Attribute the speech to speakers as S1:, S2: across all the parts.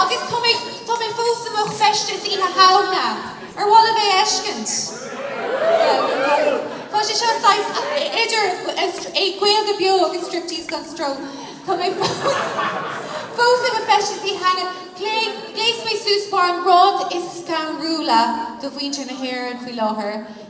S1: Agus tá mé, tá mé fós i mo feisteas Oíche Shamhna. Ar mhaith libh é a fheiscint? Yeah, go hard. Tá sé seo saghas idir Gaeilge beo agus striptease gan stró. Tá mé fós, fós i mo feisteas Oíche Shamhna. Gléas, gléas mé suas mar an rud is scanrúla do mhuintir na hÉireann faoi láthair.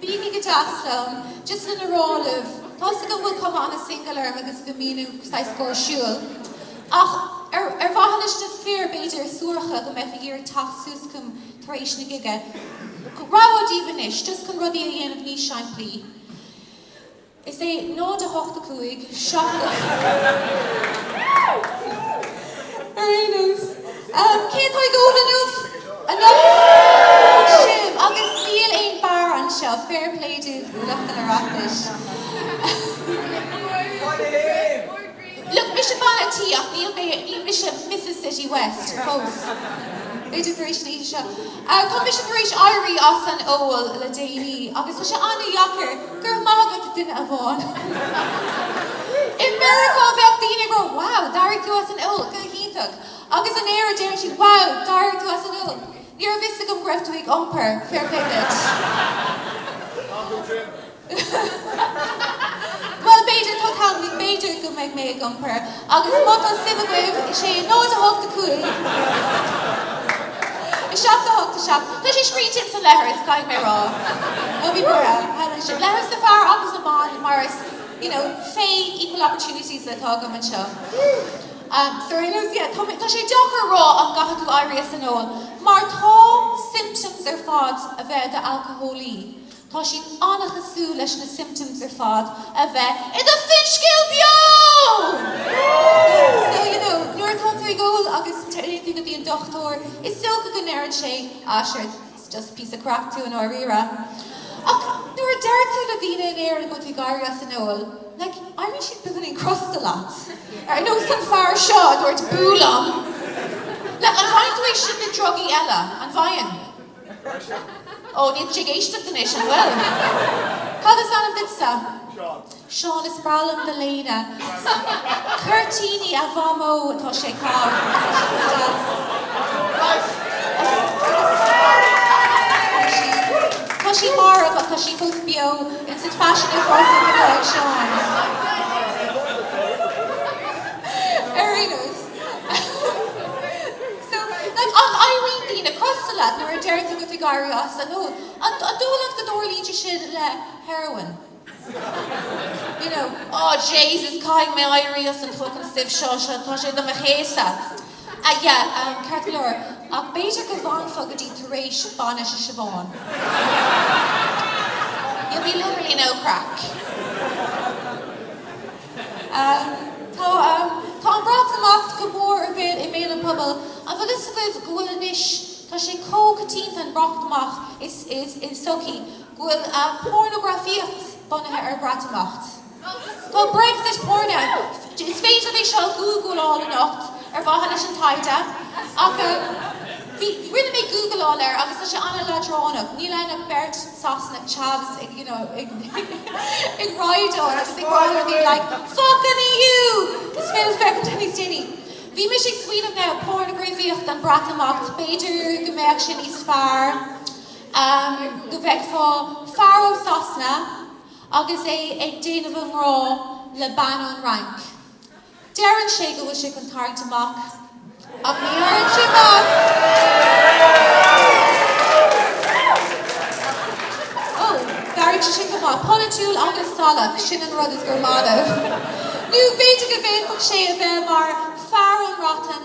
S1: Bígí go deas liom. Just lena rá libh, tá's agam go bhfuil cuma an-single orm agus go mbím, ú, saghas gáirsiúil. Ach ar ar mhaithe leis na fir, b'fhéidir, suaracha go mbeadh ag iarraidh teacht suas chugam tar éis na gige, rabhadh daoibh anois, just chun rudaí a dhéanamh níos simplí. Is é 0 8 5 7. Ar aon nós, cé atá ag ól inniubh? Anocht! Sibh, Agus níl aon bhar anseo, fair play daoibh, lucht an Oireachtais. Go maire Dia! Look, mise Bean an Tí ach níl mé, níl mise Misses City West fós. B'fhéidir tar éis an oíche seo. Tá mise tar éis éirí as an ól le déanaí agus tá sé an-deacair, go raibh maith agat, a dhuine amháin. I Meiriceá bheadh daoine ag rá, wow, d'éirigh tú as an ól, go hiontach. Agus in Éirinn déarfaidh siad, wow, d'éirigh tú as an ól, ní raibh fhios agam go raibh tú ag iompar, fair play duit. Bhuel, b'fhéidir, tá ceann agaibh, b'fhéidir go mbeidh mé ag iompar, agus má tá suim agaibh, is é 0 8 5 7 8 7 Tá sé scríte ins an leithreas, caithfidh mé rá, nó bhí Muire ann ansin, leithreas na bhfear agus na mban, mar is, you know, fé equal opportunities atá agam anseo. Ahem. Sorry Liz, yeah, tá mé, tá sé deacair a rá an gcaithfidh tú éirí as an ól, mar tá symptoms ar fad a bheith i d'alcólaí. Tá siad an-chosúil leis na symptoms ar fad a bheith i do finscéal beo! So, you know, nuair atá tú ag ól agus téann tú go dtí an dochtúir, is dócha go ndeireann sé, ah, sure, it's just píosa craic tú i ndáiríre. Ach nuair a deir tú le daoine in Éirinn go bhfuil tú ag éirí as an ól, like, éiríonn siad beagáinín crosta leat. Ar nós an fear seo a dúirt boo liom. Like, an bhfaigheann tú é sin le drugaí eile? An bhfaigheann? Ó, níl sí ag éisteacht anois, an bhfuil? Cad is ainm duitse? Seán. Seán, is breá liom do léine. Cuirtíní a Mhamó atá sé a' caitheamh. Tá sí marbh, ach tá sí fós beo. Ins an faisean a chroithfeadh mná ag Seán. Ar aon nós. So, like, an éiríonn daoine crosta leat nuair a deireann tú go bhfuil tú ag éirí as an ól? An dóigh leat go dtarlaíonn sé sin le heroin? You know, oh, Jesus, caithfidh mé éirí as an fucking stuif seo, tá sé do mo chéasadh. Ah, yeah, um, ceart go leor, ach b'fhéidir go bhfanfá go dtí tar éis bainise Siobhán. You'll be literally no craic. Tá an Breatimeacht go mór i mbéal i mbéal an phobail. An bhfuil fhios agaibh go bhfuil anois, tá sé chomh coitianta an Breatimeacht i sochaí go bhfuil pornagrafaíocht bunaithe ar Bhreatimeacht. Tá Brexit porn. Is féidir é seo a ghoogláil anocht ar mhaithe leis an taighde ach rinne mé googláil air agus tá sé an-leadránach. Níl ann ach beirt. Sasanach, chavs ag, you know, ag ag rá agus ag rá le daoine like, Fuck an EU! Is féidir féachaint air níos déanaí. Bhí mise ag smaoineamh now, pornagrafaíocht an Breatimeacht, b'fhéidir go mbeadh sé níos fearr ehm go bhfeicfeá fear ó Sasana agus é ag déanamh an ghrá le bean ón Fhrainc. Deireann sé go bhfuil sé chun tarraingt amach ach ní tharraingíonn sé amach! Ó, d'éirigh sé sin go maith. Polaitiúil agus salach, sin an rud is gur maith libh. Nó b'fhéidir go bhféadfadh sé a bheith mar fear ón mBreatain,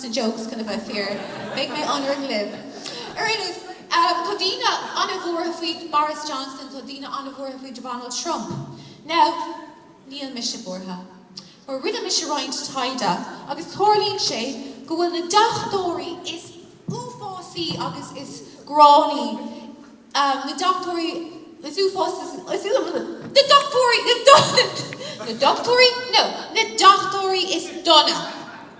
S1: jokes chun a bheith fíor. Beidh mé ionraic libh. Ar aon nós, tá daoine an-bhuartha faoi Boris Johnson, tá daoine an-bhuartha faoi Dhonald Trump. Now, níl mise buartha. Ach rinne mise roinnt taighde agus tarlaíonn sé go bhfuil na deachtóirí is uafásaí agus is gránnaí, na deachtóirí is uafásaí, na deachtóirí, na deachtóirí, no, na deachtóirí is dona.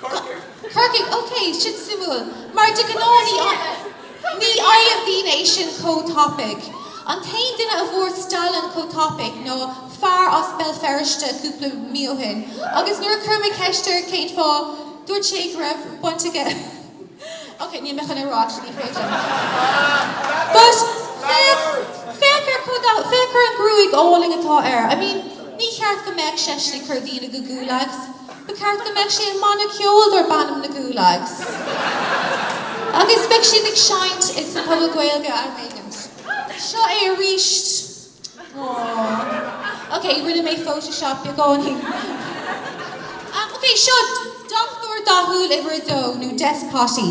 S1: Corcaigh. Corcaigh, ok, sin suimiúil, mar de ghnáth ní ní fhaigheann daoine é sin chomh tapaidh. An t-aon duine a fuair Stalin chomh tapaidh ná fear as Béal Feirste cúpla mí ó shin, agus nuair a chuir mé ceist air cén fáth, dúirt sé go raibh baint aige ok, níl mé chun é rá, actually, creidim. But féach, féach ar chomh da, féach ar an ghruaig álainn atá air. I mean, ní ceart go mbeadh seisean ag cur daoine go gulags. Ba cheart go mbeadh sé i mbanna ceoil darb ainm na Gulags. Agus beidh siad ag seinnt ag sa Phuball Gaeilge am éigin. Seo é arís. Aww. Ok, rinne mé photoshop beagáinín. Am, ok, seo Deachtóir Dathúil uimhir a dó, nó Despottie.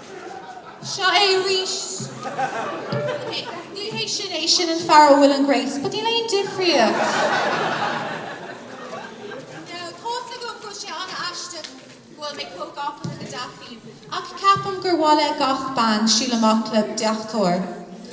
S1: Seo é arís. Ok, ní hé sin é, sin an fear ó Will and Grace, but níl aon difríocht. Now, tá's agam go bhfuil sé an-aisteach go bhfuil mé chomh gafa le Gaddafi, ach ceapaim gur mhaith le gach bean siúl amach le deachtóir.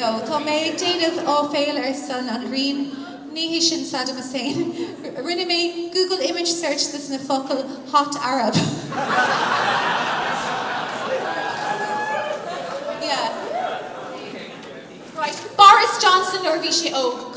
S1: No, tá mé ag déanamh áiféil ar son an ghrinn, ní hé sin Saddam Hussein. Rinne mé Google image search de sna focail hot Arab. Yeah. Right, Boris Johnson nuair a bhí sé óg.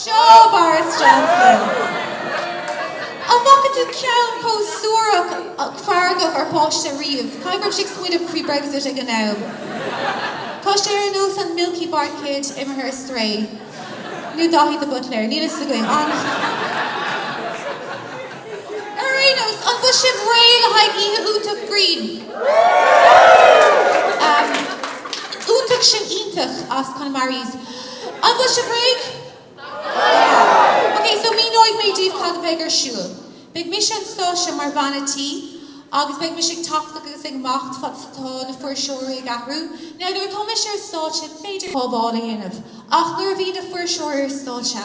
S1: Seo Boris Johnson. An bhfaca tú ceann chomh suarach feargach ar pháiste riamh? Caithfidh go raibh sé ag smaoineamh faoi Brexit ag an am. Tá sé ar nós an Milky Bar Kid imithe ar strae. Nó Daithí de Buitléir. Níl a fhios againn. An. Ar aon nós, an bhfuil sibh réidh le haghaidh oíche iontach grinn? Ahem. Iontach, sin iontach as Conamairis. An bhfuil sibh réidh? Yeah! Ok, so míneoidh mé daoibh cad a bheidh ar siúl. Beidh mise ar an stáitse mar bhean a' tí, agus beidh mise ag teacht agus ag imeacht fad is atá na fuirseoirí ag athrú. Now, nuair atá mise ar stáitse, b'fhéidir pábháil a dhéanamh, ach nuair a bhíonn na fuirseoirí ar stáitse,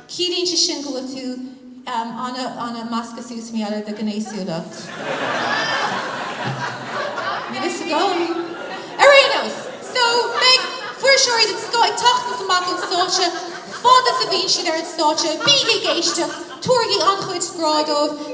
S1: Ciallaíonn sé sin go bhfuil tú ana-ana measctha suas maidir le do ghnéasúlacht. Níl fhios agam. Ar aon nós, so, beidh fuirseoirí den scoth ag teacht is imeacht ón stáitse, fad is a bhíonn siad ar an stáitse, bígí ag éisteacht, tabhairigí an-chuid grá dóibh.